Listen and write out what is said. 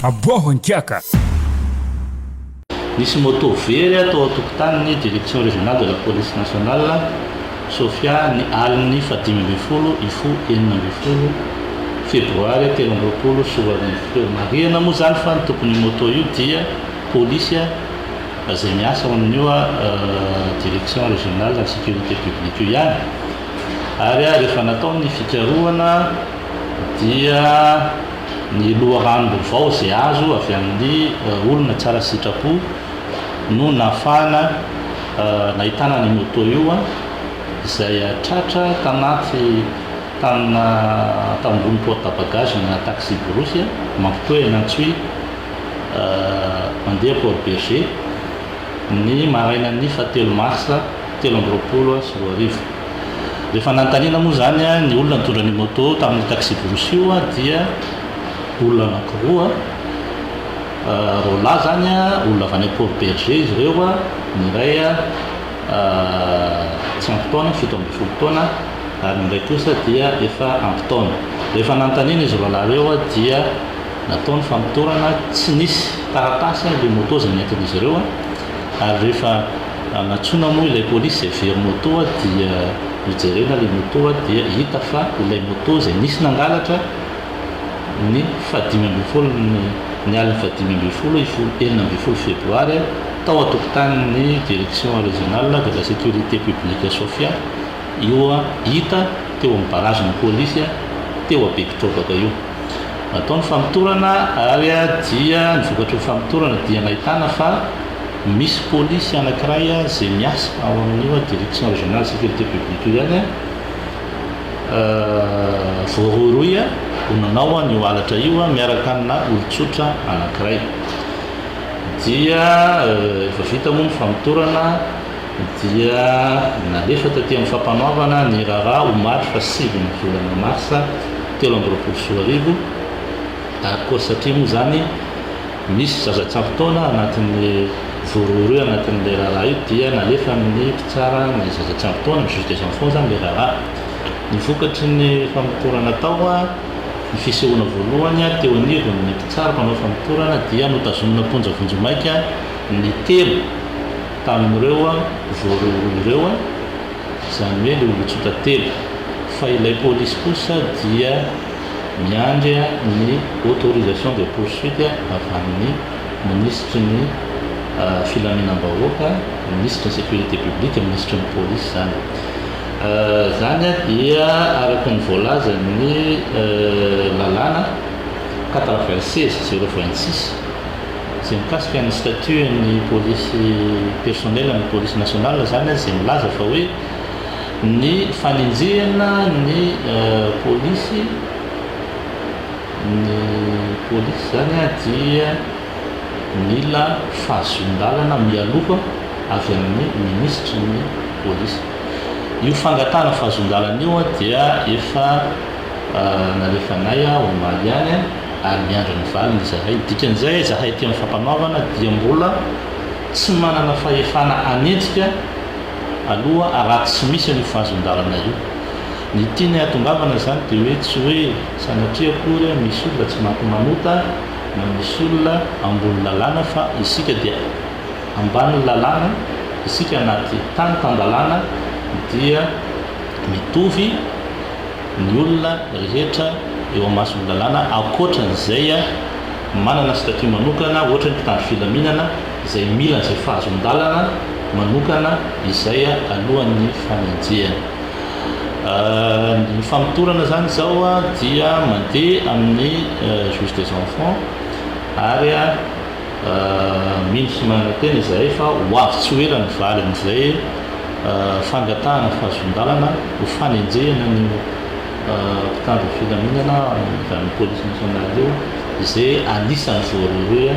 Aboaho an-kiaka! Nisy moto very tao an-tokotanin'ny Direction Régionale de la Police Nationale, Sofia, ny alin'ny faha dimy ambin'ny folo Ifu enina ambin'ny folo Febroary telo amby roapolo sy roa arivo teo. Marihana moa izany fa ny tompon'io moto io dia polisy izay miasa ao amin'io Direction Régionale de la Sécurité Publique io ihany ary rehefa natao ny fikarohana dia Ny loharanom-baovao izay azo avy amin'ny olona tsara sitrapo no nahafahana nahitana an'io moto io izay tratra tanaty tanina tao ambony porte-bagages-na taxi-brousse mampitohy an'i Antsohihy mandeha Port Bergé ny marainan'ny fahatelo marsa telo amby roapolo sy roa arivo. Rehefa nanontaniana moa izany ny olona nitondra ny moto tamin'io taxi-brousse io dia olona anankiroa roalahy izany, olona avy any Port Bergé izy ireo, ny iray tsy ampy taona, fito ambin'ny folo taona ary ny iray kosa dia efa ampy taona. Rehefa nanontaniana izy roalahy ireo dia natao ny famotorana, tsy nisy taratasy ilay moto izay nentin'izy ireo ary rehefa Anatsoina moa ilay polisy izay very moto dia nojerena ilay moto dia hita fa ilay moto izay nisy nangalatra ny faha dimy ambin'ny folo ny ny alin'ny faha dimy ambin'ny folo i folo enina ambin'ny folo febroary tao an-tokotanin'ny direction régionale de la sécurité publique Sofia io hita teo amin'ny barazin'ny polisy teo Bekotrobaka io. Natao ny famotorana ary dia ny vokatry ny famotorana dia nahitana fa Misy polisy anankiray izay miasa ao amin'io direction régionale sécurité publique io ihany voarohirohy ho nanao an'io halatra io miaraka amina olon-tsotra anankiray. Dia efa vita moa ny famotorana dia nalefa taty amin'ny fampanoavana ny raharaha omaly faha sivy ny volana marsa telo amby roapolo sy roa arivo ary koa satria moa izany Misy zaza tsy ampy taona anatin'ny voarohirohy ao anatin'ilay raharaha io dia nalefa amin'ny mpitsara ny zaza tsy ampy taona, ny juge des enfants izany ilay raharaha. Ny vokatry ny famotorana tao, ny fisehoana voalohany teo anivon'ny mpitsara mpanao famotorana dia notazomina am-ponja vonjimaika ny telo tamin'ireo voarohirohy ireo, izany hoe ilay olon-tsotra telo, fa ilay polisy kosa dia. miandry ny autorisation de poursuite avy amin'ny minisitry ny filaminam-bahoaka, minisitry ny sécurité publique, minisitry ny polisy izany. Izany dia araka ny voalazan'ny lalàna quatre-vingt-seize zéro vingt-six izay mikasika ny statut an'ny polisy personnel an'ny polisy nationale izany izay milaza fa hoe Ny fanenjehana ny polisy, ny polisy izany dia mila fahazoan-dalana mialoha avy amin'ny minisitry ny polisy. Io fangatahana fahazoan-dalana io dia efa nalefanay omaly ihany ary miandry ny valiny izahay. Dikan'izay izahay aty amin'ny fampanoavana dia mbola tsy manana fahefana hanenjika. aloha araha tsy misy an'io fahazon-dalana io. Ny tiany hahatongavana izany dia hoe tsy hoe sanatria akory an, misy olona tsy maty manota na misy olona ambony lalàna fa isika dia ambanin'ny lalàna, isika anaty tany tan-dalàna dia mitovy ny olona rehetra eo amason'ny lalàna ankoatran'izay manana statut manokana ohatry ny mpitandro filaminana. izay mila izay fahazon-dalana manokana izay alohan'ny fanenjehana. Ny famotorana izany izao dia mandeha amin'ny juge des enfants ary mino sy manantena izahay fa ho avy tsy ho ela ny valin'izay fangatahana fahazon-dalana ho fanenjehana an'io mpitandro ny filaminana avy amin'ny police nationale io izay anisan'ny voarohirohy.